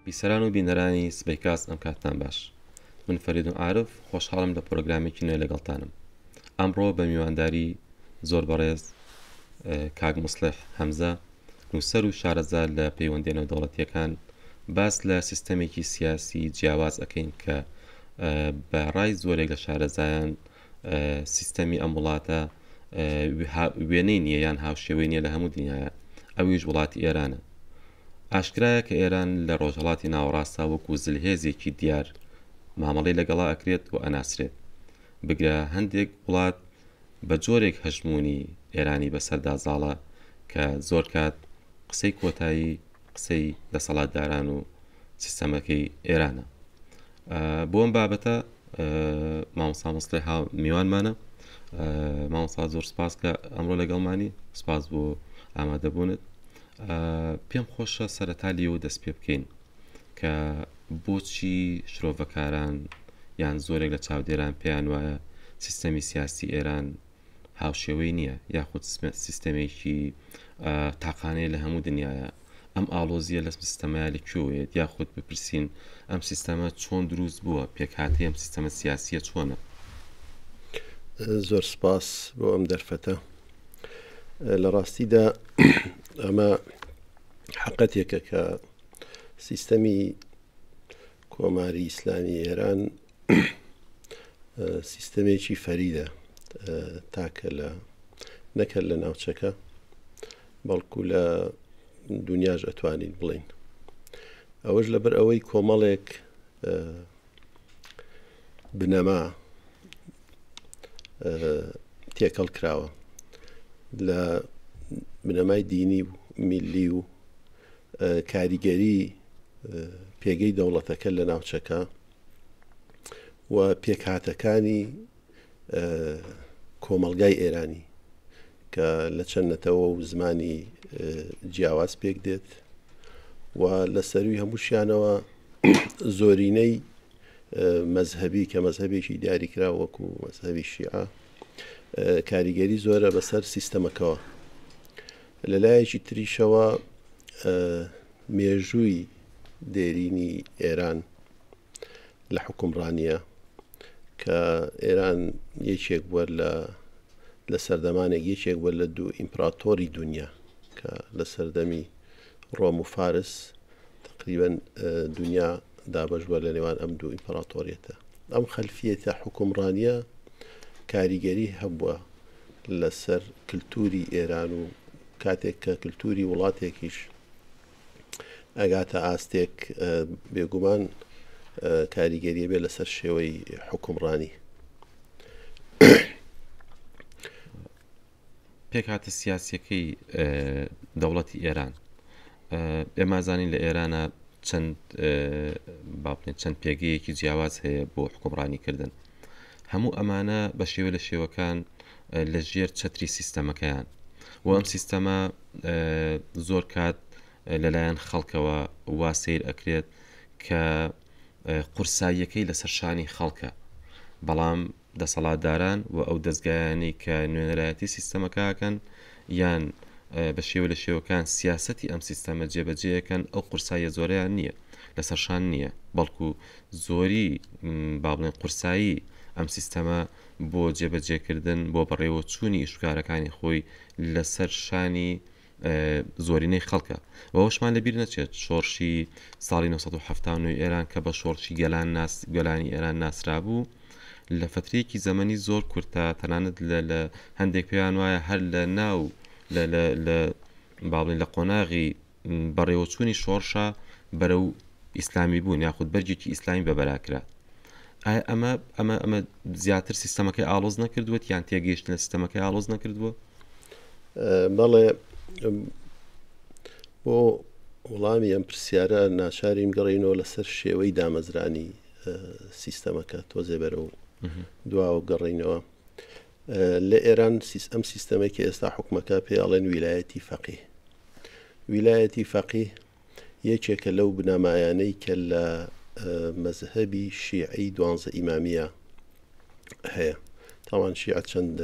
بیسەران و بینەرانی سبەیکاست ئەم کاتتان باش من فەریدون عارف خۆشحاڵم لە پرۆگرامێکی نوێ لەگەڵتانم ئەمڕۆ بە میوانداری زۆر بەڕێز کاک مسلح حەمزە نووسەر و شارەزار لە پەیوەندی نەودەوڵەتیەکان باس لە سیستەمێکی سیاسی جیاواز ئەەکەین کە بە ڕای زۆرێک لە شارەزایان سیستەمی ئەم وڵاتە وێنەی نییە یان هاوشێوەی نییە لە هەموو دنیاە ئەویش وڵاتی ئێرانە ئاشکرایە کە ئێران لە ڕۆژهڵاتی ناوەڕاستە وەکو زلهێزێکی دیار مامەڵی لەگەڵا ئەکرێت و ئەناسرێت بگرە هەندێک وڵات بە جۆرێک هەژمونی ئێرانی بەسەردا زاڵە کە زۆر کات قسەی کۆتایی قسەی دەسەڵاتداران و سیستەمەکەی ئێرانە بۆم بابەتە مامۆسا مستێ ها میوانمانە مامۆسا زۆر سپاس کە ئەمڕۆ لەگەڵمانی سپاس بۆ ئامادەبوونت پێم خۆشە سەرەتا لێوە دەست پێ بکەین کە بۆچی شرۆڤەکاران یان زۆرێک لە چاودێران پێیان وایە سیستەمی سیاسی ئێران هاوشێوەی نییە یاخود سیستەمێکی تاقانەیە لە هەموو دنیاە ئەم ئالۆزیە لە سیستەمە لە کوێت یاخود بپرسین ئەم سیستەمە چۆن دروست بووە پێکاتی ئەم سیستەمە سیاسیە چۆنە زۆر سپاس بۆ ئەم دەرفەتە لە ڕاستیدا ئەمە حقەتێکە کە سیستەمی کۆماری ئیسلامی ئێران سیستەمێکی فەریدە تاکە لە نەکرد لە ناوچەکە بەڵکو لە دنیاش ئەتوانین بڵین ئەوەش لەبەر ئەوەی کۆمەڵێک بنەما تێکەڵ کراوە لە بنەمای دینی و میلی و کاریگەری پێگەی دەوڵەتەکە لە ناوچەکە و پێکهاتەکانی کۆمەڵگای ئێرانی کە لە چەند نەتەوە و زمانی جیاواز پێک دێت و لە سەروی هەمووشیانەوە زۆرینەی مەذهبی کە مەذهبێکی دیاریکرا وەکو مەذهبی شیعە کاریگەری زۆرە بەسەر سیستەمەکەەوە لەلایەکی تریشەوە مێژووی دێرینی ئێران لە حوکمڕانییە کە ئێران یەکێک بووە لە لە سەردەمانێک یەکێک بووە لە دوو ئیمپراتۆری دنیا کە لە سەردەمی ڕۆم و فارس تقریبەن دنیا دابش بووە لە نێوان ئەم دوو ئیمپراتۆریەتە ئەم خەلفیەتە حکومڕانیە کاریگەری هەبووە لەسەر کللتوری ئێران و کاتێک کە کللتوری وڵاتێکیش ئەگاتە ئاستێک بێگومان کاریگەریە بێ لەسەر شێوەی حکومڕانی پێکهاتە سیاسەکەی دەوڵەتی ئێران ئێمازانین لە ئێرانە چەند باڵێن چەند پێگەیەکی جیاواز هەیە بۆ حکومڕانی کردن هەموو ئەمانە بە شێوە لە شێوەکان لە ژێر چەتری سیستەمەکەیان و ئەم سیستەمە زۆر کات لەلایەن خەڵکەوە وا سیر ئەکرێت کە قورساییەکەی لەسەر شانی خەڵکە بەڵام دەسەڵاتداران و ئەو دەستگایانی کە نوێنەرایەتی سیستەمەکەکەن یان بە شێوە لە شێوەکان سیاستی ئەم سیستەمە جێبەجێەکەن ئەو قورساییە زۆریان نییە لەسەر شان نییە بەڵکو زۆری با بڵێن قورسایی ئەم سیستەمە بۆ جێبەجێکردن بۆ بەڕێوەچوونی ئیشوکارەکانی خۆی لەسەر شانی زۆرینەی خەڵکە و ئەوشمان لە بیر نەچێت شۆڕشی ساڵی 1970 ئێران کە بە شۆڕشی گەلان ناس گەلانی ئێران ناسرابوو لە فترێکی زەمەنی زۆر کورتە تەنانەت لە لە هەندێک پێیان وایە هەر لە ناو لە لە لە باڵی لە قۆناغی بەڕێوەچوونی شۆڕشە بەرەو ئیسلامی بوون یاخود بەرگێکی ئیسلامی بەبەراکرا ئایا ئەمە ئەمە ئەمە زیاتر سیستەمەکەی ئاڵۆز نەکردووت یان تێگەیشت لە سیستەمەکەی ئاڵۆز نەکردووە بەڵێ بۆ وڵامی ئەم پرسیارە ناچارین گەڕینەوە لەسەر شێوەی دامەزرانی سیستەمەکە تۆزێ بەرە و دواوە گەڕینەوە لە ئێران سیس ئەم سیستەمەی کە ئێستا حکومەکە پێ ئەڵێن ویلایەتی فەقی ویلایەتی فەقی یەکێکە لەو بنەمایانەی کە لە مەزهبی شیعی دوانزە ئیمامیە هەیە تاوان شیعە چەند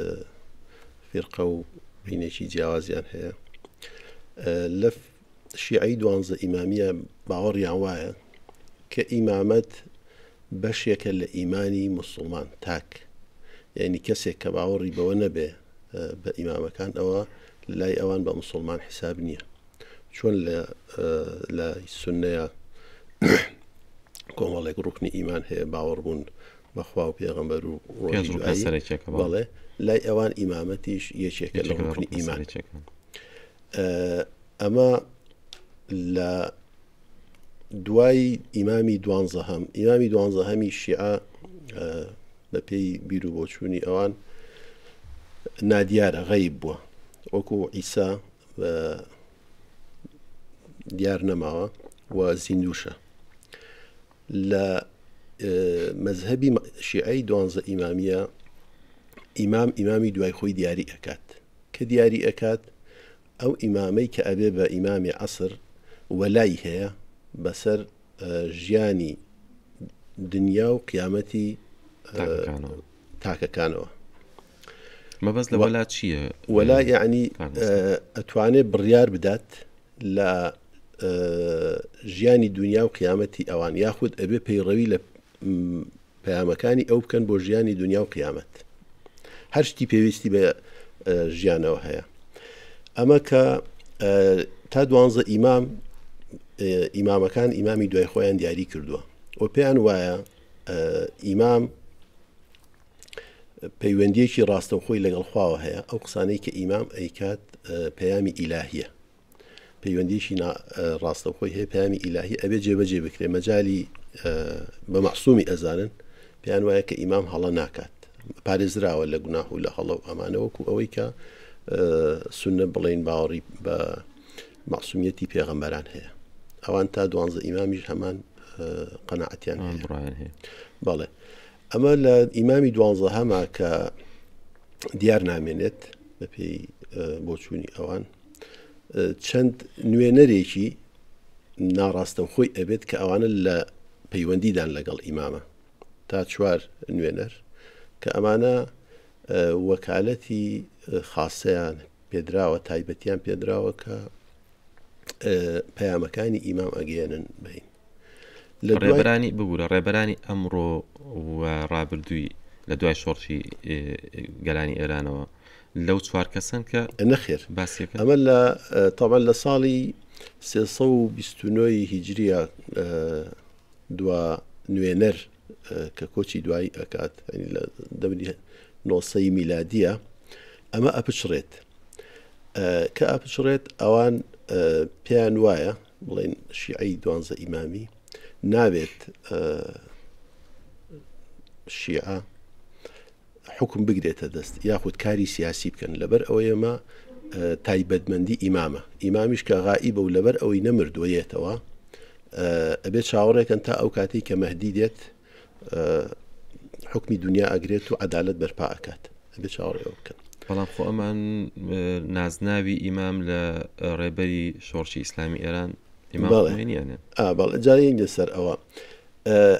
فیرقە و بینێکی جیاوازیان هەیە لە شیعەی دوانزە ئیمامیە باوەڕیان وایە کە ئیمامەت بەشێکە لە ئیمانی موسڵمان تاک یعنی کەسێک کە باوەڕی بەوە نەبێ بە ئیمامەکان ئەوە لای ئەوان بە مسلمان حیساب نییە چۆن لە سنەیە کۆمەڵێک ڕوکنی ئیمان هەیە باوەڕبوون بەخوا و پێغەمبەر و ڕۆژێکەڵێ لای ئەوان ئیمامەتیش یەکێکە لە ڕوکنی ئیمانێکەکە ئەمە لە دوای ئیمامی دوانزەهەم ئیمامی دوانزەهەمی شیعە بە پێی بیر و بۆچوونی ئەوان نادیارە غەیب بووە وەکو ئیسا دیار نەماوە و زیندوشە لە مەذهبی شیعی دوانزە ئیمامیە ئیمام ئیمامی دوای خۆی دیاری ئەکات کە دیاری ئەکات ئەو ئیمامەی کە ئەبێ بە ئیمامی عەسر وەلای هەیە بەسەر ژیانی دنیا و قیامەتی تاکەکانەوە مەبەست لە وەلا چییە وەلا یعنی ئەتوانێت بڕیار بدات لە ژیانی دنیا و قیامەتی ئەوان یاخود ئەبێ پەیڕەوی لە پەیامەکانی ئەو بکەن بۆ ژیانی دنیا و قیامەت هەر شتی پێویستی بە ژیانەوە هەیە ئەمە کە تا دوانزە ئیمام ئیمامەکان ئیمامی دوای خۆیان دیاری کردووە و پێیان وایە ئیمام پەیوەندیەکی ڕاستەوخۆی لەگەڵ خواوە هەیە ئەو قسانەی کە ئیمام ئەیکات پەیامی ئیلاهە پەیوەندیەکی نا ڕاستەوخۆی هەیە پامی ئیلاهی ئەبێ جێبەجێ بکرێ مەجای بە مەعسومی ئەزانن پێیان وایە کە ئیمام هەڵە ناکات پارێزراوە لە گوناه و لە هەڵە و ئەمانەوەکو ئەوەی کە سنە بڵین باوەڕی بە مەعسومیەتی پێغەمبەران هەیە ئەوان تا دوانزە ئیمامیش هەمان قەنەعەتیان بەڵێ ئەمە لە ئیمامی دوانزە هەما کە دیار نامێنێت بەپێی بۆچوونی ئەوان چەند نوێنەرێکی ناڕاستەوخۆی ئەبێت کە ئەوانە لە پەیوەندیدان لەگەڵ ئیمامە تا چوار نوێنەر کە ئەمانە وەکالەتی خاصەیان پێدراوە تایبەتیان پێدراوە کە پەیامەکانی ئیمام ئەگەێنن بین لە ڕێبەرانی ببوورە ڕێبەرانی ئەمڕۆ و ڕابردووی لە دوای شۆڕشی گەلانی ئێرانەوە لەو چوار کەسن کە نەخێر باسیەکە ئەمە لە تاوان لە ساڵی 1920 هیجریە دوا نوێنەر کە کۆچی دوایی ئەکات لە دەوری نۆسەی میلادیە ئەمە ئەپچڕێت کە ئەپچڕێت ئەوان پێیان وایە بڵێن شیعەی دوانزە ئیمامی ناوێت شیعە حکم بگرێتە دەست یاخود کاری سیاسی بکەن لەبەر ئەوە ئێمە تایبەتمەندی ئیمامە ئیمامیش کە غایی بە و لەبەر ئەوەی نەمردوەیەتەوە ئەبێ چاوەڕێکن تا ئەو کاتێک کە مەهدی دێت حوکمی دنیا ئەگرێت و عدالت بەرپا ئەکات ئەبێ چاوەڕێ بکەن بەڵام خۆ ئەمان نازناوی ئیمام لە ڕێبەری شۆڕشی ئیسلامی ئێران بەڵجاین لەسەر ئەوە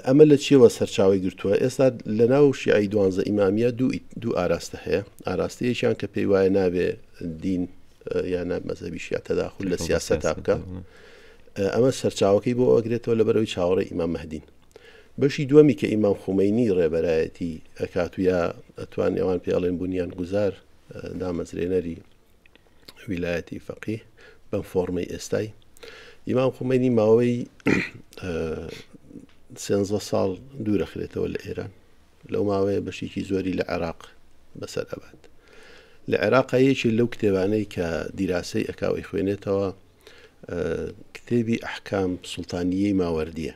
ئەمە لە چیەوە سەرچاوی گرتووە ئێستا لە ناو شیعی دوانزە ئیمامیە دوو دوو ئاراستە هەیە ئاراستەیەکیان کە پێی وایە نابێ دین یان مەزەبی شیا تەداخل لە سیاست تا بکە ئەمە سەرچاوەکەی بۆ ئەگرێتەوە لە بەرەوەی چاوەڕێ ئیمام مەدین بەشی دووەمی کە ئیمام خومەینی ڕێبەرایەتی ئەکات و یا ئەتوان ئەوان پێ ئەڵێن بنیان گوزار دامەزرێنەری ویلایەتی فەقی بەم فۆرمەی ئێستای ئیمام خومەینی ماوەی سێنزە ساڵ دوورەخرێتەوە لە ئێران لەو ماوەیە بەشێکی زۆری لە عێراق بەسەر ئەبات لە عێراقایەکی لەو کتێبانەی کە دیراسەی ئەکاوی خوێنێتەوە کتێبی ئەحکام سوڵتانییەی ماوەردییە.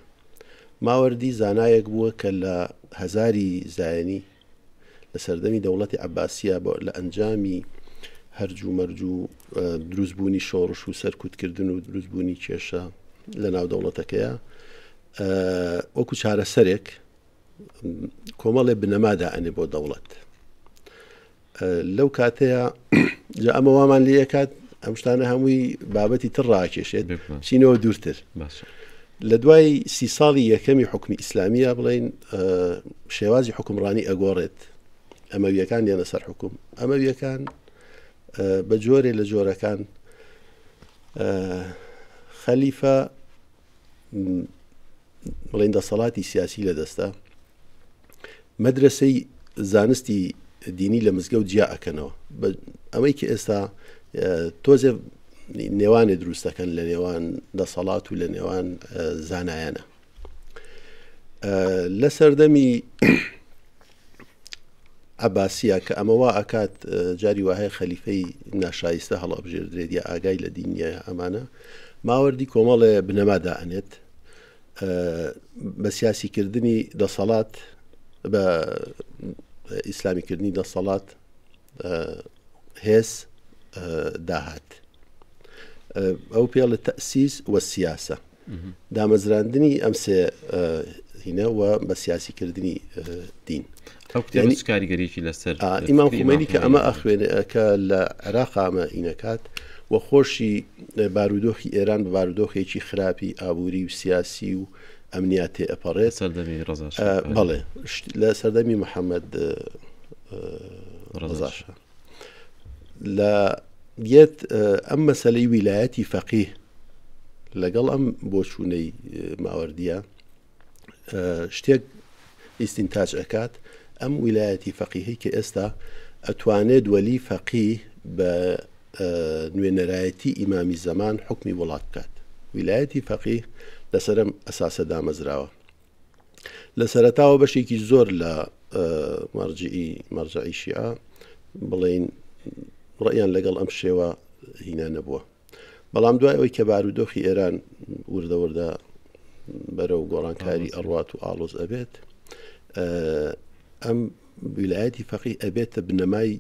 ماوەردی زانایەک بووە کە لە هەزاری زایەنی لە سەردەمی دەوڵەتی عەباسیە بۆ لە ئەنجامی هەرج و مەرج و دروستبوونی شۆڕش و سەرکوتکردن و دروستبوونی کێشە لە ناو دەوڵەتەکەیە وەکو چارەسەرێک کۆمەڵێ بنەما دائەنێ بۆ دەوڵەت لەو کاتەیە جا ئەمە وامان لێ کات ئەم شتانە هەمووی بابەتی تر ڕاکێشێت چینەوە دوورتر لە دوای سی ساڵی یەکەمی حکومی ئیسلامیە بڵین شێوازی حکومڕانی ئەگۆڕێت ئەمەویەکان یانە سەر حکوم ئەمەویەکان بە جۆرێ لە جۆرەکان خەلیفە بڵێن دەسەڵاتی سیاسی لە دەستە مەدرسەی زانستی دینی لە مزگەوت جیا ئەکەنەوە ئەوەی کە ئێستا تۆزێ نێوانێ دروستەکەن لە نێوان دەسەڵات و لە نێوان زانایانە لە سەردەمی عەباسیە کە ئەمە وا ئەکات جاری واهەیە خەلیفەی ناشایستە هەڵئەبژێردرێت یا ئاگای لە دین نیە ئەمانە ماوەردی کۆمەڵێ بنەما دائەنێت بە سیاسیکردنی دەسەڵات بە ئیسلامیکردنی دەسەڵات هێز داهات ئەو پێڵە تەسیز وە سیاسە دامەزراندنی ئەم سێ هینە و بە سیاسی کردنی دین ئەو کتێبی هیچ کاریگەریەکی لەسەر ئا، ئیمام خومەینی کە ئەمە ئەخوێنێ ئە، کە لە عێراق ئامە ئینەکات و خۆشی ئێ بارودۆخی ئێران بە بارودۆخێکی خراپی ئابووری و سیاسی و ئەمنیات تێ ئەپەڕێت سەردەمی ڕەزا ئا، شا بەڵێ شت لە سەردەمی محەمەد ئا، ڕەزا شا. لە یەت ئەم مەسلەی ویلایەتی فەقیه لەگەڵ ئەم بۆچوونەی ماوەردیە شتێک ئیسینتاج ئەکات ئەم ویلایەتی فەقیهی کە ئێستا ئەتوانێت وەلی فەقی بە نوێنەرایەتی ئیمامی زەمان حکمی وڵات بکات ویلایەتی فەقی لەسەرم ئەساسە دامەزراوە لە سەرتاوە بەشێکی زۆر لە مەرجعی مەرجعی شیعە بڵین ڕیان لەگەڵ ئەم شێوە هینا نەبووە بەڵام دوای ئەوی کە بارودۆخی ئێران وردە وردە بەرەو گۆڕانکاری ئەڕات و ئاڵۆز ئەبێت ئەم ویلایەتی فەقی ئەبێتە بنەمای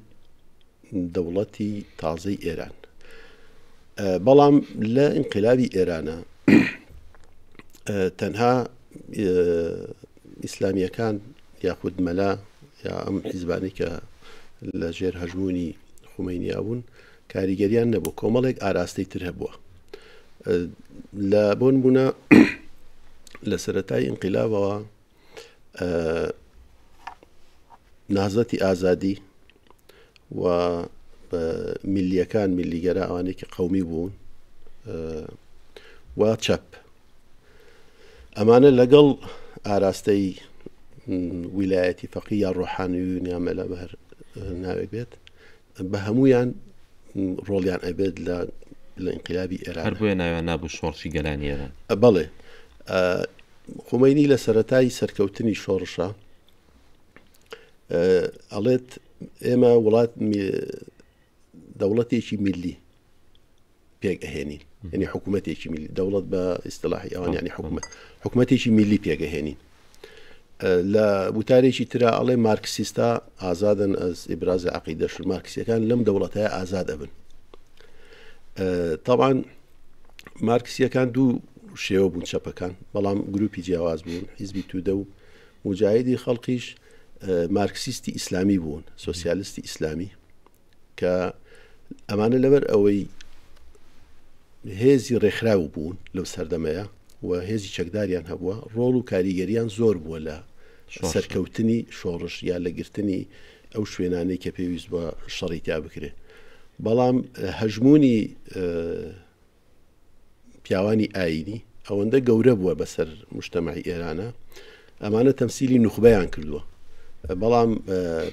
دەوڵەتی تازەی ئێران بەڵام لە ئینقلابی ئێرانە تەنها ئیسلامیەکان یاخود مەلا یا ئەم حیزبانی کە لە ژێر هەژمونی خومینیا بوون کاریگەریان نەبوو کۆمەڵێک ئاراستەی تر هەبووە لە بۆن بوونە لە سەتای ئینقلابەوە نەهزەتی ئازادی و میللیەکان میللیگەرا ئەوانێکی قومی بوون و چەپ ئەمانە لەگەڵ ئاراستەی ویلایەتی فەقی یا ڕۆحانیون یا مەلەبەر ناوێک بێت بە هەموویان ڕۆڵیان ئەبێت لە لە ئینقلابی ئێران هەر بۆیە ناویان نابوو شۆڕشی گەلانی ئێران ئە بەڵێ ئە، خومەینی لە سەرەتای سەرکەوتنی شۆڕشە ئە، ئەڵێت ئێمە وڵات می- دەوڵەتێکی میلی پێک ئەهێنین ینی حکوومەتێکی میلی دەوڵەت بە ئیسلاحی ئەوان ینی حکوومەت حکوومەتێکی میلی پێگەهێنین لە وتارێکی تررا ئەڵێ مارکسیستا ئازادن ئەس ئیبراز عقی دەشت مارکسیەکان لەم دەوڵەتە ئازاد ئەبن طبعاان مارکسیەکان دوو شێوە بوون چەپەکان بەڵام گروپی جیاواز بوون حیزبی تودە و مجاهدی خەڵقیش مارکسیستی ئیسلامی بوون سوسیالستی ئیسلامی کە ئەمانە لەبەر ئەوەی هێزی ڕێکخراو بوون لەو سەردەمەیە و هێزی چەکداریان هەبووە ڕۆڵ و کاریگەریان زۆر بووە لە سەرکەوتنی شۆڕش یا لە گرتنی ئەو شوێنانەی کە پێویست بە شەڕی تا بکرێت بەڵام هەژمونی پیاوانی ئایینی ئەوەندە گەورە بووە بەسەر مشتەمەعی ئێرانە ئەمانە تەمسیلی نوخبەیان کردووە بەڵام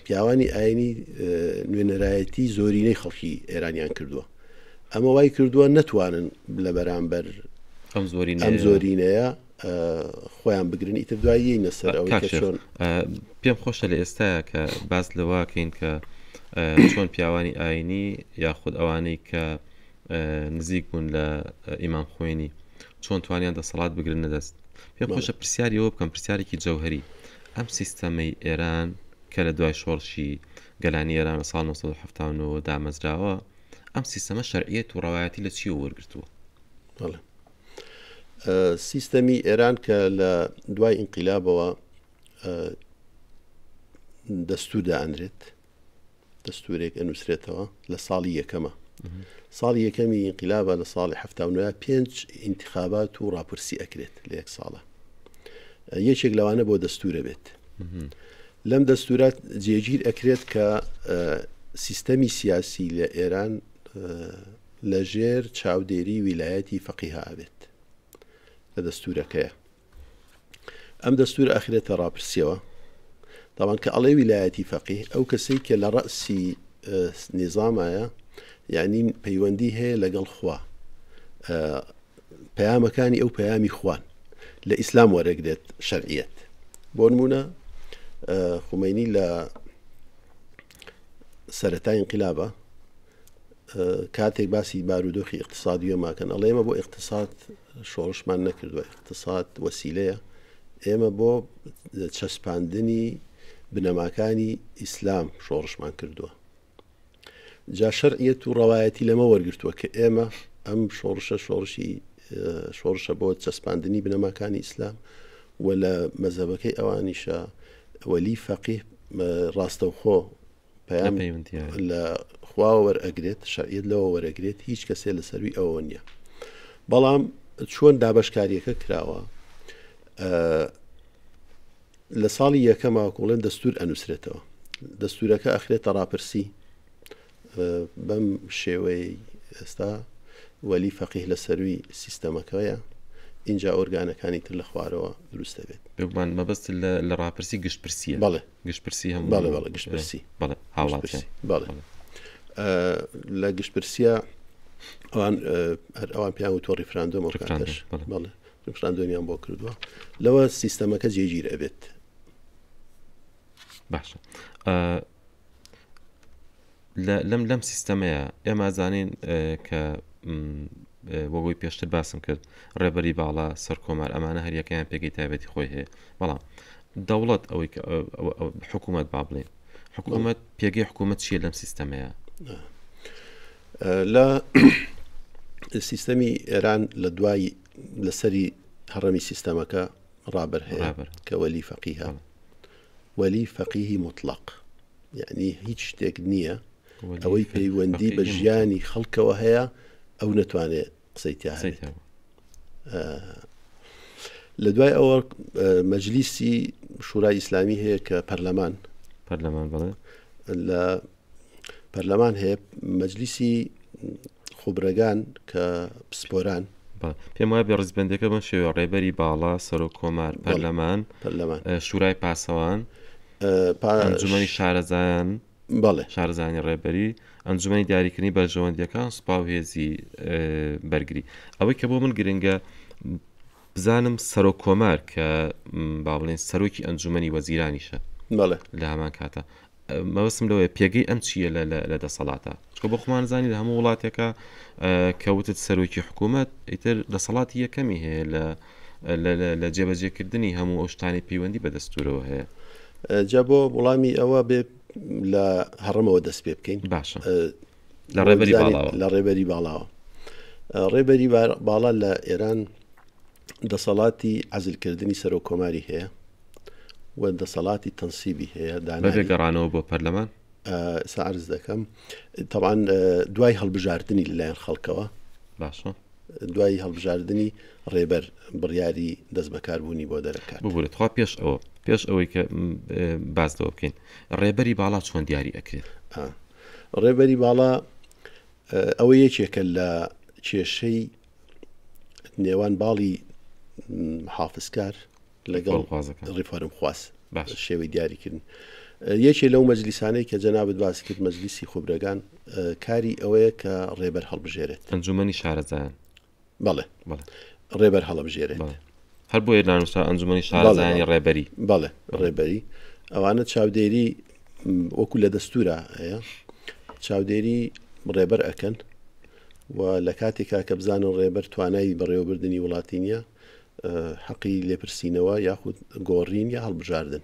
پیاوانی ئاینی نوێنەرایەتی زۆرینەی خەڵکی ئێرانیان کردووە ئەمە وای کردووە نەتوانن لە بەرامبەر ئەم زۆرین ئەم زۆرینەیە خۆیان بگرن ئیتر دوایی نەسەر ئەوەی چۆن پێم خۆشە لە ئێستا کە باز لەواکەین کە چۆن پیاوانی ئاینی یاخود ئەوانەی کە نزیک بوون لە ئیمام خوێنی چۆن توانیان دەسەڵات بگرنە دەست پێ خۆشە پرسیاری ئەوە بکەم پرسیارێکی جەوهری ئەم سیستەمەی ئێران کە لە دوای شۆڕشی گەلانی ئێران لە ساڵ 1970 دامەزراوە ئەم سیستەمە شەرعیت و ڕەوایەتی لە چی وەرگتووە سیستەمی ئێران کە لە دوای ئینقلابەوە دەستور دانرێت دەستورێک ئەنووسرێتەوە لە ساڵی یەکەمە ساڵی یەکەمی ئینقلابە لە ساڵی ه پێنج ئینتخابات و راپرسی ئەکرێت لە یەک ساڵە یەکێک لەوانە بۆ دەستورە بێت لەم دەستورات جێگیر ئەکرێت کە سیستەمی سیاسی لە ئێران لە ژێر چاودێری ویلایەتی فەقیها ئەبێت لە دەستورەکەیە ئەم دەستورە ئەخرێتە ڕاپرسیەوە تاوان کە ئەڵێ ویلایەتی فەقی ئەو کەسەی کە لە ڕەسی نیزامایە یعنی پەیوەندی هەیە لەگەڵ خوا پەیامەکانی ئەو پەیامی خوان لە ئیسلام وەرەگرێت شەرعیەت بۆ نمونە خومینی لە سەرەتا انقلابە کاتێک باسی بارودۆخی اقتصادیە ماکەن ئەڵێمە بۆ اقتصاد شۆڕشمان نەکردوە ئیقتساد وەسیلەیە ئێمە بۆ چەسپاندنی بنەماکانی ئیسلام شۆڕشمان کردوە جا شەرعیەت و ڕەوایەتی لەمە وەرگتووە کە ئێمە ئەم شۆڕشە شۆڕشی شۆڕشە بۆ چەسپاندنی بنەماکانی ئیسلام و لە مەزەبەکەی ئەوانیشە وەلی فەقی ڕاستەوخۆ پەیام لە خوا وەرئەگرێت شەعیت لەوە وەرەگرێت هیچ کەسێ لە سەروی ئەوە نییە بەڵام چۆن دابشکاریەکە کراوە لە ساڵی یەکەما کۆڵێن دەستور ئەنووسرێتەوە دەستورەکە ئەخرێتە ڕاپرسی بەم شێوەی ئێستا وەلی فەقیه لە سەروی سیستەمەکەیە اینجا ئۆرگانەکانی تر لە خوارەوە دروست دەبێت بێگومان مەبەست لە ڕاپرسی گشتپرسیە بەڵێ گشتپرسی هەم بەڵێ بەڵێ گشتپرسی بەڵێ هاوڵاتی بەڵێ لە گشتپرسیە ئەوان هەر ئەوان پێیان و تۆ ڕیفراندۆم ئەوکاتش بەڵێ ڕیفراندۆمیان بۆ کردووە لەوە سیستەمەکە جێگیر ئەبێت باشە لەم لەم سیستەمەیە ئێمە زانین کە بۆبووی پێشتر باسم کرد ڕێبەری باڵا سەر کۆمار ئەمانە هەریەکەیان پێگەی تایبەتی خۆی هەیە بەڵام دەوڵەت ئەوەی حکوومەت با بڵێ حکوومەت پێگەی حکوومەت چیە لەم سیستەمەیە لە سیستەمی ئێران لە دوای لەسەری هەڕەمی سیستەمەکە ڕابەر هەیە کەوەلی فەقیها وەلی فەقیهی موتڵەق یەعنی هیچ شتێک نییە ئەوەی پەیوەندی بە ژیانی خەڵکەوە هەیە ئەو نەتوانێ قسەی تیا هەبێت لە دوای ئەوە مەجلیسی شورای ئیسلامی هەیە کە پەرلەمان پەرلەمان بڵێ لە پەرلەمان هەیە مەجلیسی خوبرەگان کە پسپۆران پێم وای بە ڕزبندەکە بەم شێوە ڕێبەری باڵا سەرۆک کۆمار پەرلەمان پەرلەمان شورای پاسەوان ئەنجومی شارەزایان بەڵێ شارزانانی ڕێبەری ئەنجومی دیاریکردنی بەرژەوەندیەکان سوپا و هێزی بەرگری ئەوەی کە بۆ من گرنگە بزانم سەرۆک کۆمار کە با بڵێن سەرۆکی ئەنجومی وەزیرانیشە لە هەمان کاتە مەبەستم لەوەیە پێگەی ئەم چییە لە دەسەڵاتە چکە بۆ خۆمان زانانی لە هەموو وڵاتێکە کەوتت سەرۆکی حکوومەت ئیتر دەسەڵاتی یەکەمی هەیە لە لە جێبەجێکردنی هەموو ئەو شتانی پەیوەندی بە دەستورەوە هەیە جا بۆ وڵامی ئەوە بێ لە هەڕمەوە دەست پێ بکەین باشە لە ڕێبەری باڵاوە لە ڕێبەری باڵاوە ڕێبەری باڵا لە ئێران دەسەڵاتی عزلکردنی سەرۆک کۆماری هەیە و دەسەڵاتی تەنسیبی هەیە داناگەڕانەوە بۆ پەرلەمان سعرز دەکەم تاوان دوای هەڵبژاردننی لەلایەن خەڵکەوە باشە دوای هەڵبژاردننی ڕێبەر بڕیاری دەست بەکاربوونی بۆ دەرەکات ببورێتخوا پێش ئەوە پێش ئەوەی کە باستەوە بکەین ڕێبەری باڵا چۆن دیاری ئەکرێت ڕێبەری باڵا ئەوە یەکێکە لە کێشەی نێوان باڵی حافزکار لەگەڵ ڕیفۆرم خواست شێوەی دیاریکردن یەکێ لەو مەجلیسانەی کە جەنابەت باس کرد مەجلیسی خوبرەکان کاری ئەوەیە کە ڕێبەر هەڵبژێرێت ئەنجومی شارەزایان بەڵێ ڕێبەر هەڵبژێرێت هەر بۆیە نانوسا ئەنجومی شارزانانی ڕێبەری بەڵێ ڕێبەری ئەوانە چاودێری وەکو لە دەستورا هەیە چاودێری ڕێبەر ئەکەن و لە کاتێکا کە بزانن ڕێبەر توانای بەڕێوەبردننی وڵاتی نیە حەقی لێپرسینەوە یاخود گۆڕین یا هەڵبژاردن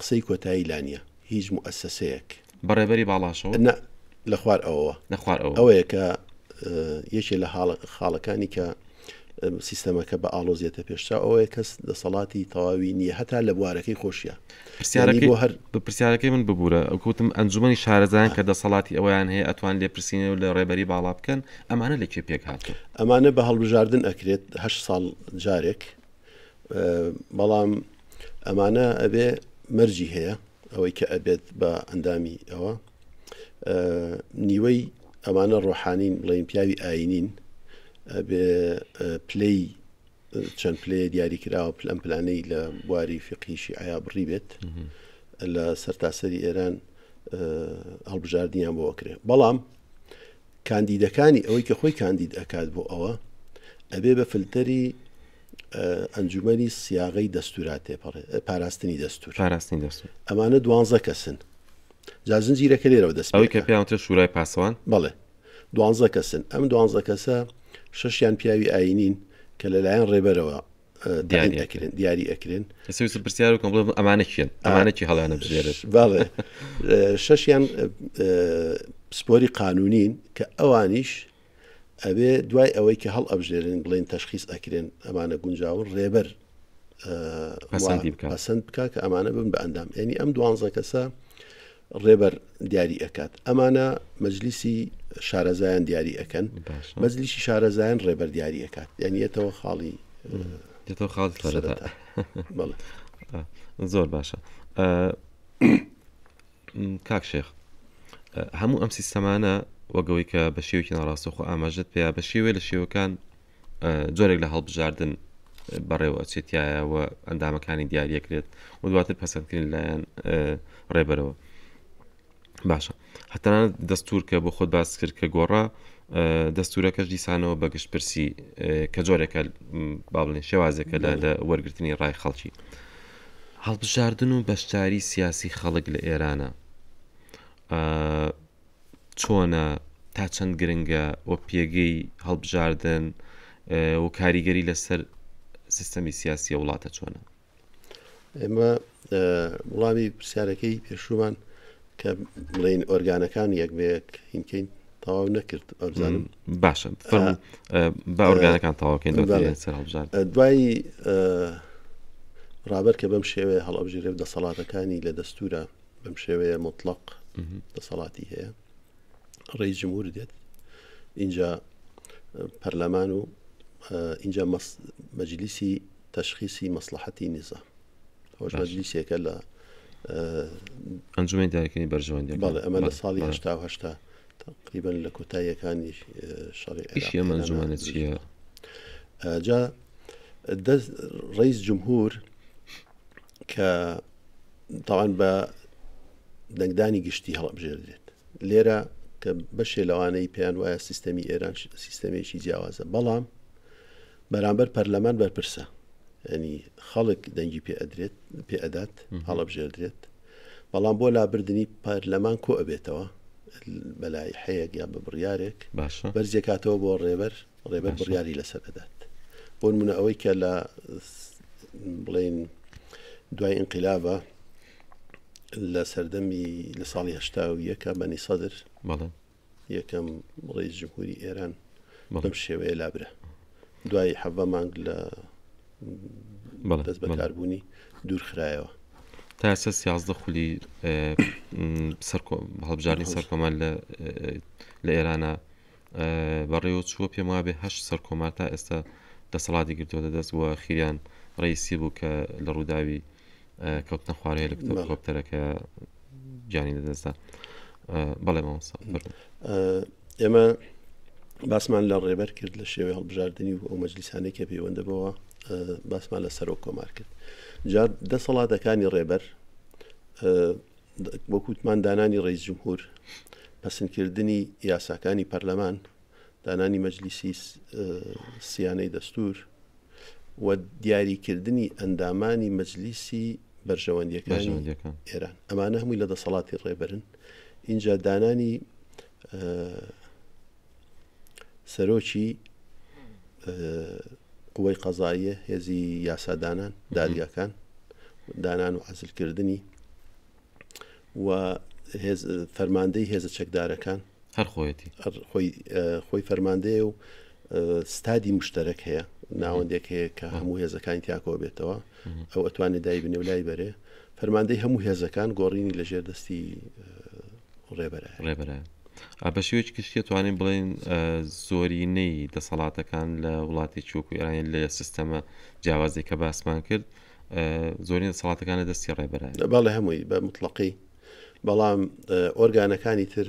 قسەی کۆتایی لانیە هیچ موئەسەسەیەک. بە ڕێبەری باڵاشەوە؟ نا لە خوار ئەوەوە. لە خوار ئەوەوە. ئەوەیە کە یەکێ لە هاڵە خاڵەکانی کە سیستەمەکە بە ئاڵۆزیەتە پێشچاو ئەوەیە کەس دەسەڵاتی تەواوی نییە هەتا لە بوارەکەی خۆشیە پرسیارەکەی بۆ هەر بە پرسیارەکەی من ببوورە ئەوکوتم ئەنجومەنی شارەزایان کە دەسەڵاتی ئەویان هەیە ئەتوان لێ پرسیینە و لە ڕێبەری باڵا بکەن ئەمانە لە کوێ پێک هاتوون. ئەمانە بە هەڵبژاردن ئەکرێت هەشت ساڵ جارێک بەڵام ئەمانە ئەبێ مەرجی هەیە ئەوەی کە ئەبێت بە ئەندامی ئەوە نیوەی ئەمانە ڕۆحانین بڵێن پیاوی ئاینین ئەبێ پلەی چەند پلێ دیاری کراوە پلەم پلانەی لە بواری فقیشی ئایا بڕی بێت لە سەرتاسەری ئێران هەڵبژاردنیان بۆ ئەکرێ بەڵام کاندیدەکانی ئەوەی کە خۆی کاندید ئەکات بۆ ئەوە ئەبێ بە فلتەری ئەنجومەنی سیاغەی دەستورا تێپەڕێ پاراستنی دەستور پاراستنی دەستور ئەمانە دوانزە کەسن جا زنجیرەکە لێرەوە دەست ئەوی کە پێیانتە شورای پاسەوان بەڵێ دوانزە کەسن ئەم دوانزە کەسە شەشیان پیاوی ئاینین کە لەلایەن ڕێبەرەوە دیاری ئەکرێن دیاری ئەکرێن سویس پرسیار کەم بڵێ ئەمانە کێن ئەمانەکی هەڵانە بژێرێت باڵێ شەشیان پسپۆری قانونین کە ئەوانیش ئەبێ دوای ئەوەی کە هەڵ ئەبژێرن بڵێن تەشخیس ئەکرێن ئەمانە گونجاون ڕێبەر پەسەند بکە کە ئەمانە بن بە ئەندام ئەنی ئەم دوانزە کەسە ڕێبەر دیاری ئەکات ئەمانە مەجلیسی شارەزایان دیاری ئەەکەن مەجلیسی شارەزایان ڕێبەر دیاری ئەکات یعنیەتەوە خاڵی دێتەوە خاڵ زۆر باشە کاک شێخ هەموو ئەم سیستەمانە وەگەوەی کە بە شێوکی ناڕاستەخۆ ئاماژت پێیا بە شێوێ لە شێوەکان جۆرێک لە هەڵبژاردن بەڕێوە ئەچێتایە و ئەندامەکانی دیارەکرێت و دواتر پەسەندکردن لایەن ڕێبەرەوە باشە هەتەنان دەستور کە بۆ خۆت باس کرد کە گۆڕا دەستورەکەش دیسانەوە بە گشتپرسی کە جۆرێکە باڵێن شێوازێکە لە وەرگرتنی ڕای خەڵکی هەڵبژاردن و بەشداری سیاسی خەڵک لە ئێرانە چۆنە، تا چەند گرنگە و پێگەی هەڵبژاردن و کاریگەری لەسەر سیستەمی سیاسی وڵاتە چۆنە؟ ئێمە وڵامی پرسیارەکەی پێشوومان کە بڵین ئۆرگانەکان یەک بەیەک هینکەین تەواو نەکرد ئەبزانم باشە بە ئۆرگانەکان تەواوکەین سەربژان دوای ڕابەر کە بەم شێوەیە هەڵبژێرێ و دەسەڵاتەکانی لە دەستورە بەم شێوەیە مطلق دەسەڵاتی هەیە ڕێی جمهور دێت اینجا پەرلەمان و اینجا مەجلیسی تەشخیسی مەسلحەتی نیزە هۆش مەجلیسێکە لە ئەنجومی دایکردنی بەرژەوەندی بەڵێ ئەمە لە ساڵی هشتا هشتا تقریبن لە کۆتاییەکانی شەڕی ئیشی ئەمە ئەنجومانە چیە جا دەست ڕیز جمهور کە تاوان بە دەنگدانی گشتی هەڵبژێردرێت لێرە کە بەشێ لەوانەی پێیان وایە سیستەمی ئێران سیستەمێکی جیاوازە بەڵام بەرامبەر پەرلەمان بەرپرسە ینی خەڵک دەنگی پێ ئەدرێت پێ ئەدات هەڵبژێردرێت بەڵام بۆ لابردننی پەرلەمان کۆ ئەبێتەوە بەلای حەیەک یا بە بڕیارێک باشە بەرزێکاتەوە بۆ ڕێبەر ڕێبەر بڕیاری لەسەر دەدات بۆ منە ئەوەی کە لە بڵین دوای ئینقلابە لە سەردەمی لە ساڵی هشتا و یەکە بەنی سەدر یەکەم ڕێی جمهوری ئێران بەم شێوەیە لابرا دوای حەڤە مانگ لە دەست بەکاربوونی دوورخرایەوە تا سە سیازدە خولی هەڵبژارنی سەرکۆمان لە ئێرانە بەڕێوە چووە پێم وابێ هەش سەرکۆمار تا ئێستا دەسەڵاتی گرتووە دەدەست وە خیریان ڕیسی بوو کە لە ڕووداوی کەوتنە خوارێ لە کۆپتەرەکە جانی لەدەستدا بەڵێ مامۆسا ئێمە باسمان لە ڕێبەر کرد لە شێوەی هەڵبژاردننی و ئەو مەجلیسانێکە پەیوەندە بەوە باسمان لە سەرۆک کۆمار کرد جار دەسەڵاتەکانی ڕێبەر وەکووتمان دانانی ڕیز جمهور پسندکردنی یاساکانی پەرلەمان دانانی مەجلیسی سیانەی دەستور و دیاریکردنی ئەندامانی مەجلیسی بەرژەوەندیەکان ئێران ئەمانە هەمووی لە دەسەڵاتی ڕێبرن اینجا دانانی سەرۆکی قوی قەزاییە هێزی یاسادانان دادگاکان دانان و عزلکردنی و فەرماندەی هێزە چەکدارەکان هەر خۆیەتی خۆی فەرماندەیە و ستادی مشتەرەک هەیە ناوەندێک هەیە کە هەموو هێزەکانی تیاکەوە بێتەوە ئەو ئەتوانێت دای بنێ و لای بەرێ فەرماندەی هەموو هێزەکان گۆڕینی لە ژێر دەستی ڕێبەرە ڕێبەرە بە شێوەیەکی کشتە توانین بڵێن زۆرینەی دەسەڵاتەکان لە وڵاتی چۆکو ئێرانی لە سیستەمە جیاوازێکە باسمان کرد زۆرین دەسەڵاتەکان لە دەستی ڕێبەرە. بەڵێ هەمووی بە مطلقی بەڵام ئۆرگانەکانی تر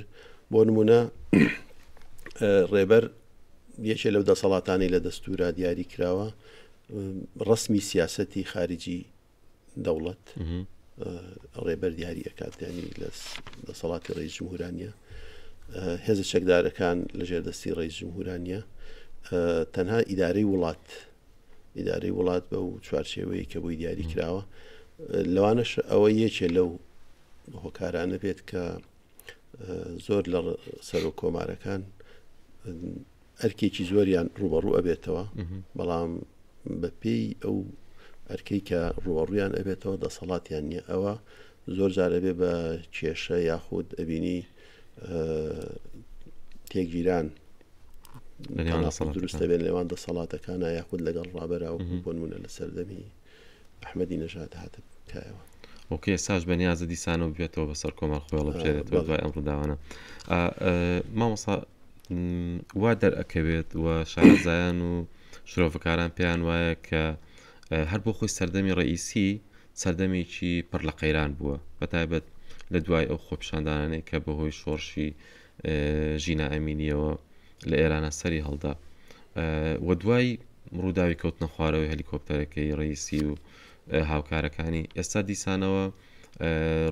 بۆ نمونە ڕێبەر یەکێ لەو دەسەڵاتانی لە دەستورا دیاری کراوە ڕسمی سیاسەتی خارجی دەوڵەت ڕێبەر دیاری ئەکاتیانی لە دەسەڵاتی ڕێز جمهورانە هێزە چەکدارەکان لەژێر دەستی ڕێز جمهورانە تەنها ئیدارەی وڵات ئیدارەی وڵات بەو چوارچێوەیە کە بۆی دیاری کراوە لەوانەش ئەوە یەکێ لەو هۆکارانە بێت کە زۆر لە سەرۆک کۆمارەکان ئەرکێکی زۆریان ڕوبەڕوو ئەبێتەوە بەڵام بە پێی ئەو ئەرکەی کە ڕوەڕویان ئەبێتەوە دەسەڵاتیان نیە ئەوە زۆر جارەبێ بە کێشە یاخود ئەبینی تێکگیران دروست دەبێت لەوان دەسەڵاتەکانە یاخود لەگەڵ ڕابەرا و بۆنمونە لە سەردەمی ئەحمەدی نەژات هاتە کایەوە وەکە ئێستاش بە نیازە دیسانەوە بێتەوە بەسەر کۆمەڵ خۆڵە بچێتەوە دوای ئەم ڕووداوانە مامۆسا وا دەرئەکەوێت و شارەزایان و شرۆڤکاران پێیان وایە کە هەر بۆ خۆی سەردەمی ڕئیسی سەردەمێکی پڕ لە قەیران بووە، بەتایبەت لە دوای ئەو خۆپیشاندانانەی کە بەهۆی شۆڕشی ژینا ئەمینییەوە لە ئێرانە سەری هەڵدا و دوای ڕووداوی کەوتنەخوارەوەی هەلیکۆپتەرەکەی ڕەیسی و هاوکارەکانی، ئێستا دیسانەوە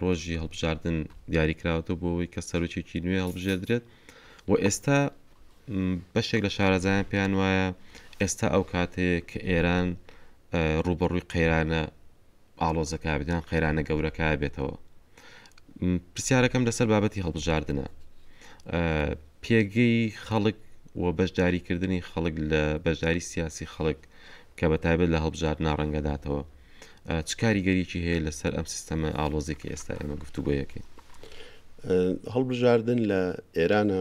ڕۆژی هەڵبژاردن دیاری کراوەتەوە بۆ ئەوەی کە سەرۆکێکی نوێ هەڵبژێردرێت و ئێستا بەشێک لە شارەزایان پێیان وایە ئێستا ئەو کاتەیە کە ئێران ڕووبەڕووی قەیرانە ئاڵۆزەکە بێت یان قەیرانە گەورەکە بێتەوە پرسیارەکەم لەسەر بابەتی هەڵبژاردنە پێگەی خەڵک و بەشداریکردنی خەڵک لە بەشداری سیاسی خەڵک کە بە تایبێت لە هەڵبژار ناڕەنگەداتەوە چ کاریگەریی هەیە لەسەر ئەم سیستەمە ئاڵۆزی کە ئێستا ئێمە گفتوگویەکەی هەڵبژاردن لە ئێرانە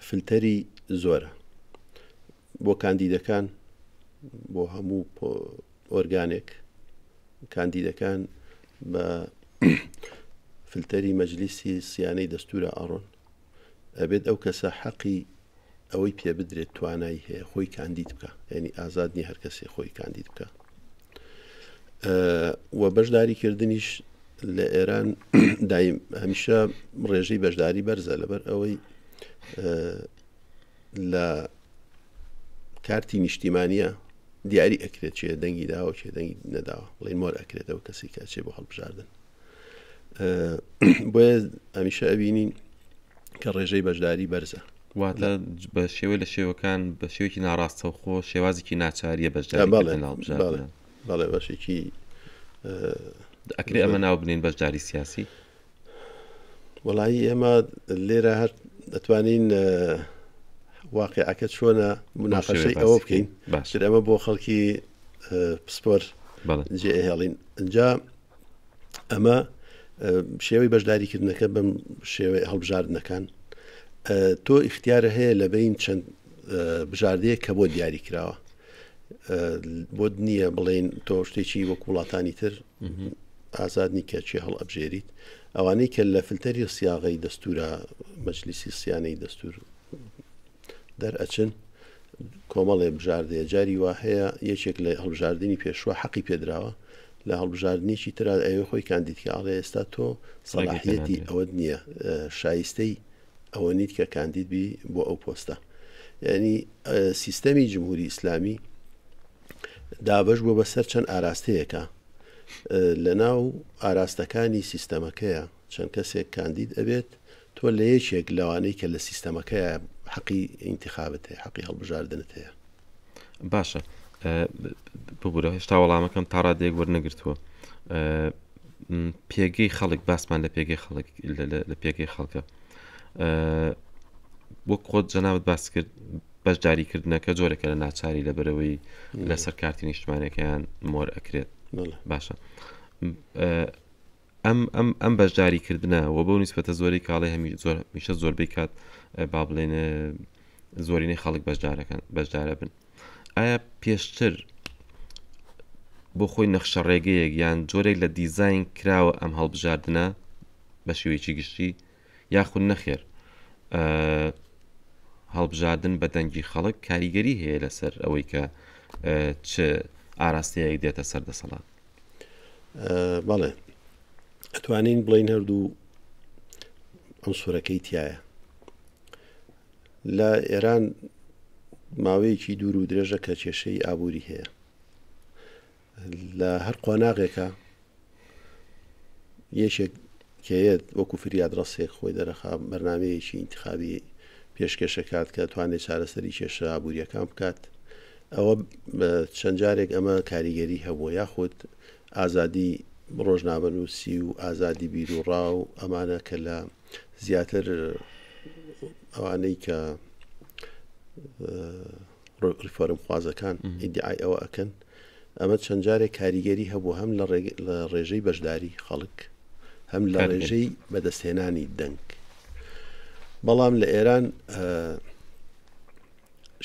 فلتەری زۆرە بۆ کاندیدەکان بۆ هەموو ئۆرگانێک کاندیدەکان بە فلتەری مەجلیسی سیانەی دەستورە ئەڕۆن ئەبێت ئەو کەسە حەقی ئەوەی پێ بدرێت توانای هەیە خۆی کاندید بکە ینی ئازادنی هەرکەسێ خۆی کاندید بکە و بەشداری کردنیش لە ئێران دایم هەمیشە ڕێژەی بەشداری بەرزە لەبەر ئەوەی لە کارتی نیشتیمانە دیاری ئەکرێت چێ دەنگی داوە چێ دەنگی نەداوە بڵێ مۆر ئەکرێتەوە کەسی کاچێ بۆ هەڵبژاردن بۆیە ئەمیشە ئەبینین کە ڕێژەی بەشداری بەرزە واتە بە شێوە لە شێوەکان بە شێوکی ناڕاستەوخۆ شێوازێکی ناچاریە بەشداری بەڵێ بەشێکی ئەکری ئەمە ناو بنین بەشداری سیاسی وڵی ئێمە لێرە هەر دەتوانین واقعەکە چۆنە مناقەشەی ئەوە بکەین باشتر ئەمە بۆ خەڵکی پسپۆر جێهێڵین ئەجا ئەمە شێوەی بەشداریکردنەکە بەم شێوەی هەڵبژاردنەکان تۆ ئیختیارە هەیە لە بین چەند بژاردەیە کە بۆ دیاری کراوە بۆت نییە بڵین تۆ شتێکی وەک وڵاتانی تر ئازادنی کە چێ هەڵ ئەبژێریت ئەوانەی کە لە فلتەری سیاغی دەستورە مەجلیسی سیانەی دەستور دەرئەچن کۆمەڵێ بژاردەیە جاری وا هەیە یەکێک لە هەڵبژاردننی پێشوە حەقی پێدراوە لە هەڵبژاردنێکی ترا ئەوێ خۆی کاندید کە ئەڵێ ئێستا تۆ سەلاحیەتی ئەوەت نییە شایستەی ئەوەنیت کە کاندید بی بۆ ئەو پۆستە یعنی سیستەمی جمهوری ئیسلامی دابش بۆ بەسەر چەند ئاراستەیەەکە لە ناو ئاراستەکانی سیستەمەکەیە چەند کەسێک کاندید ئەبێت تۆ لە یەکێک لەوانەی کە لە سیستەمەکەیە حەقی ئینتخابت هەیە حەقی هەڵبژاردنت هەیە باشە ببوورە هێشتا وەڵامەکەم تا ڕادێک وەرنەگرتووە پێگەی خەڵک باسمان لە پێگەی خەڵک لە پێگەی خەڵکە وەک خۆت جەناوت باس کرد بەشداریکردنەکە جۆرەکە لە ناچاری لە بەرەوەی لەسەر کارتی نیشتمانەکەیان مۆر ئەکرێت باشە ئەم ئەم ئەم بەشداری کردنە وە بەو نیسبەتە زۆرەی کاڵێ هەمی زۆر میشە زۆربەی کات با بڵێن زۆرینەی خەڵک بەشدارەکەن بەشدارە بن ئایا پێشتر بۆ خۆی نەخشە ڕێگەیەک یان جۆرێک لە دیزین کراوە ئەم هەڵبژاردنە بە شێوەیەکی گشتی یاخود نەخێر هەڵبژاردن بە دەنگی خەڵک کاریگەری هەیە لەسەر ئەوەی کە چ ئاراستەیەک دێتە سەر دەسەڵات بەڵێ ئەتوانین بڵین هەردوو ئەم سوورەکەی تایە لە ئێران ماوەیەکی دوور و درێژە کە کێشەی ئابووری هەیە لە هەر قۆناغێکا یەکێک کەیەت وەکو فریاد ڕسێک خۆی دەرەخا بەرنمەیەکی انتخابی پێشکەشەکات کە توانێت چارەسەری کێشە ئابوووریەکان بکات ئەوە چەند جارێک ئەمە کاریگەری هەبووە یاخود ئازادی ڕۆژنامە نووسی و ئازادی بیر و ڕا و ئەمانە کە لە زیاتر ئەوانەی کە ڕیفۆرمخوازەکان ئیدیعای ئەوە ئەکەن، ئەمە چەند جارێک کاریگەری هەبووە هەم لە ڕێژەی بەشداری خەڵک، هەم لە ڕێژەی بەدەستهێنانی دەنگ. بەڵام لە ئێران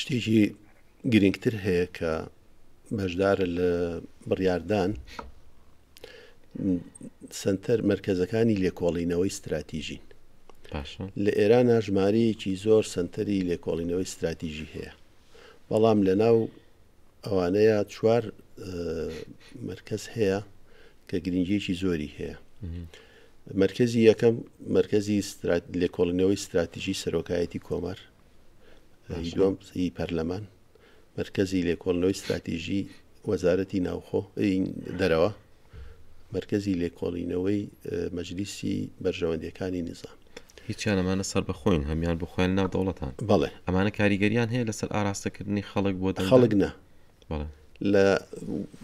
شتێکی گرنگتر هەیە کە بەشدارە لە بڕیاردان، سەنتەر مەرکەزەکانی لێکۆڵینەوەی ستراتیژین لە ئێران ژمارەیەکی زۆر سنتەری لێکۆڵینەوەی ستراتیژی هەیە بەڵام لە ناو ئەوانەیە چوار مرکز هەیە کە گرنگیەکی زۆری هەیە مرکزی یەکەم مرکزی لێکۆڵینەوەی ستراتیژی سەرۆکایەتی کۆمار دوم سی پەرلەمان مەرکەزی لێکۆڵینەوەی ستراتیژی وەزارەتی ناوخۆ دەرەوە مەرکەزی لێکۆڵینەوەی مەجلیسی بەرژەوەندەکانی نیزان هیچیان ئەمانە سەر بەخۆین هەمیان بخۆێن ناو دەوڵەتان بەڵێ ئەمانە کاریگەریان هەیە لەسەر ئاراستەکردنی خەڵک بۆ خەڵک نە لە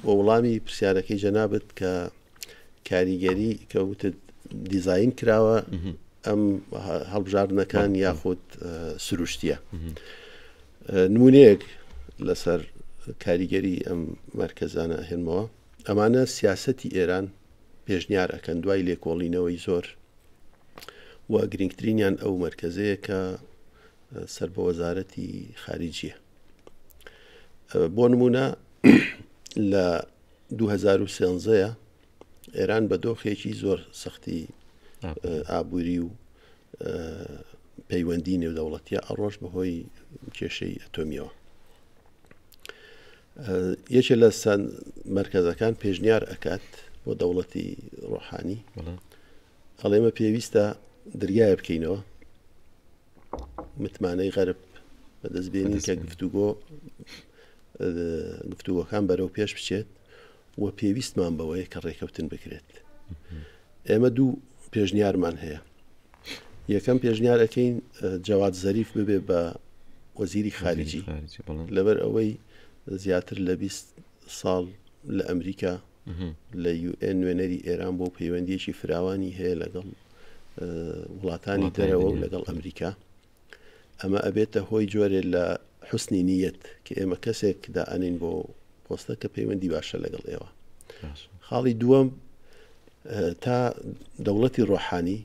وەڵامی پرسیارەکەی جەنابەت کە کاریگەری کە وتت دیزاین کراوە ئەم هەڵبژاردنەکان یاخود سروشتیە نمونەیەک لەسەر کاریگەری ئەم مەرکەزانە هێنمەوە ئەمانە سیاسەتی ئێران پێشنیار ئەکەن دوای لێکۆڵینەوەی زۆر و گرنگترینیان ئەو مەرکزەیە کە سەر بە وەزارەتی خارجیە بۆ نمونە لە دوو هەزار و سێزدە یە ئێران بە دۆخێکی زۆر سەختی ئابووری و پەیوەندی نێودەوڵەتیە ئەڕۆژ بەهۆی کێشەی ئەتۆمیەوە یەکێ لە سند مرکزەکان پێشنیار ئەکات بۆ دەوڵەتی ڕۆحانی ئەڵێمە پێویستە درگایە بکەینەوە متمانەی غەرب بەدەست بێنین کە گفتوگۆ گفتوگۆکان بەرەو پێش بچێت و پێویستمان بەوەیە کە ڕێکەوتن بکرێت ئێمە دوو پێشنیارمان هەیە یەکەم پێشنیار ئەەکەین جەوات زەریف ببێ بە وەزیری خارجی لەبەر ئەوەی زیاتر لە 20 ساڵ لە ئەمریکا لە یو ئێن نوێنەری ئێران بۆ پەیوەندیەکی فراوانی هەیە لەگەڵ وڵاتانی دەرەوە و لەگەڵ ئەمریکا ئەمە ئەبێتە هۆی جۆرێ لە حسنی نیەت کە ئێمە کەسێک دائەنین بۆ پۆستە کە پەیوەندی باشە لەگەڵ ئێوە خاڵی دووەم تا دەوڵەتی ڕۆحانی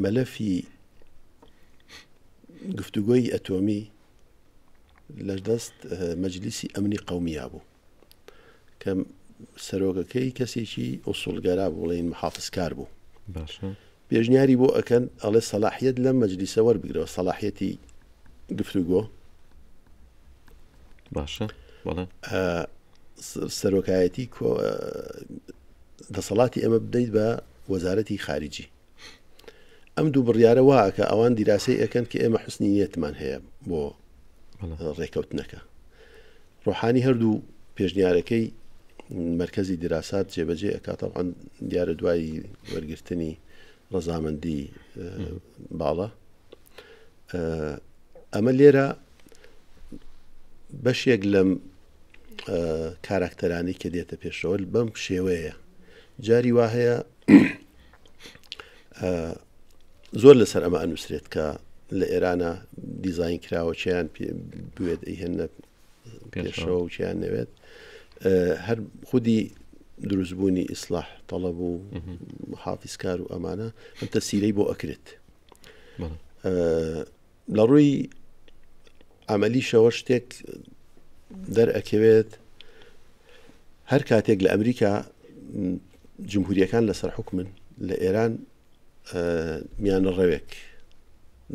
مەلەفی گفتوگۆی ئەتۆمی لە دەست مەجلیسی ئەمنی قومییا بوو کە سەرۆکەکەی کەسێکی ئۆسولگەرا بوو بڵێن محافزکار بوو پێشنیاری بۆ ئەکەن ئەڵێ سەلاحیت لە مەجلیسە وەربگرەوە سەلاحەتی گفتوگۆ باشە سەرۆکایەتی دەسەڵاتی ئەمە بدەیت بە وەزارەتی خارجی ئەم دوو بڕیارە واکە ئەوان دیراسەی ئەەکەن کە ئێمە حستنی نیەتمان هەیە بۆ ڕێکەوتنەکە ڕۆحانی هەردوو پێشنیارەکەی مرکزی دیراسات جێبەجێ ئەکاتەوان دیارە دوایی وەرگرتنی ڕەزامەندی باڵە ئەمە لێرە بەشێک لەم کاراکتەرانی کە دێتە پێشەوە بەم شێوەیە جاری وا هەیە زۆر لەسەر ئەمە ئەنووسرێت کە لە ئێرانە دیزین کراوە چیان بوێت ئەیهێنە پێشەوە و چیان نەوێت هەر خودی دروستبوونی ئیسلاح تەڵەب و حافزکار و ئەمانە ئەم تەسیرەی بۆ ئەکرێت لە ڕووی عەمەلیشەوە شتێک دەرئەکەوێت هەر کاتێک لە ئەمریکا جمهوریەکان لەسەر حکومن لە ئێران میانە ڕەوێک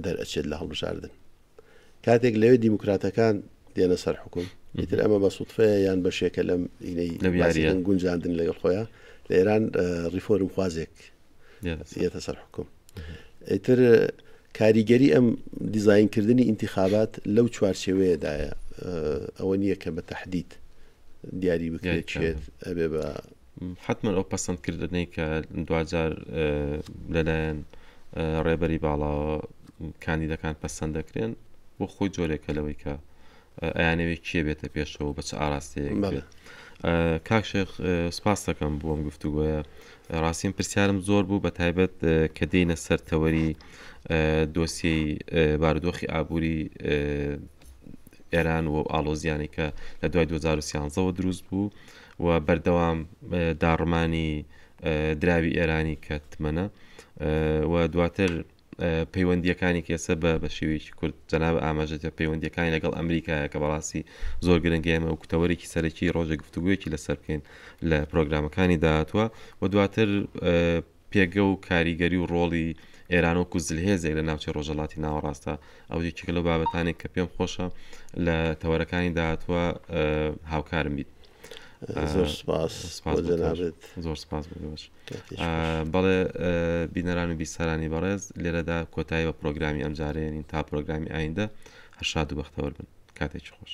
دەرئەچێت لە هەڵبژاردن کاتێک لەوێ دیموکراتەکان دێنە سەر حکوم ئیتر ئەمە بە سوتفەیە یان بە شێکە لەم گونجاندن لەگەڵ خۆیان لە ئێران ریفۆرم خوازێک یەتە سەر حکوم ئیتر کاریگەری ئەم دیزینکردنی ئینتخابات لەو چوارچێوەیەدایە ئەوە نییە کە بە تهدید دیاری بکرێت ئەبێ بە حتممە ئەو پسند کردنی کە دوجار لەلایەن ڕێبەری باڵاوە کاندیدەکان پسند دەکرێن بۆ خۆی جۆرێکە لەوەی کە ئەیانەوێت کێ بێتە پێشەوە بە چ ئاراستەیە کاکشێخ سپاس دەکەم بۆم گفتوگوۆیە ڕاستی من پرسیارم زۆر بوو بە تایبەت کە دێینە سەر تەوەری دۆسیەی بارودۆخی ئابووری ئێران و ئاڵۆزیانی کە لە دوای 2013ەوە دروست بوو و بەردەوام داڕمانی دراوی ئێرانی کە تمەە و دواتر پەیوەندییەکانی کێسە بە بە شێوەیەکی کورت جەنابە ئاماژەتە پەیوەندییەکانی لەگەڵ ئەمریکایە کە بەڕاستی زۆر گرنگە ئێمە وەکو تەوەرێکی سەرەکی ڕۆژێک گفتوگۆیەکی لەسەر بکەین لە پرۆگرامەکانی داهاتووە و دواتر پێگە و کاریگەری و ڕۆڵی ئێران وەکو زلهێزێک لە ناوچەی ڕۆژەڵاتی ناوەڕاستە ئەو یەکێک لەو بابەتانێک کە پێم خۆشە لە تەوەرەکانی داهاتووە هاوکارم بیت. زۆر سپاس سپاس بۆ جەنابت. زۆر سپاس بۆ تۆش. کاتێکی خۆش. بەڵێ بینەران و بیسەرانی بەڕێز لێرەدا کۆتایی بە پرۆگرامی ئەم جارەیەنین تا پرۆگرامی ئایندە هەر شاد و بەختەوەر بن کاتێکی خۆش.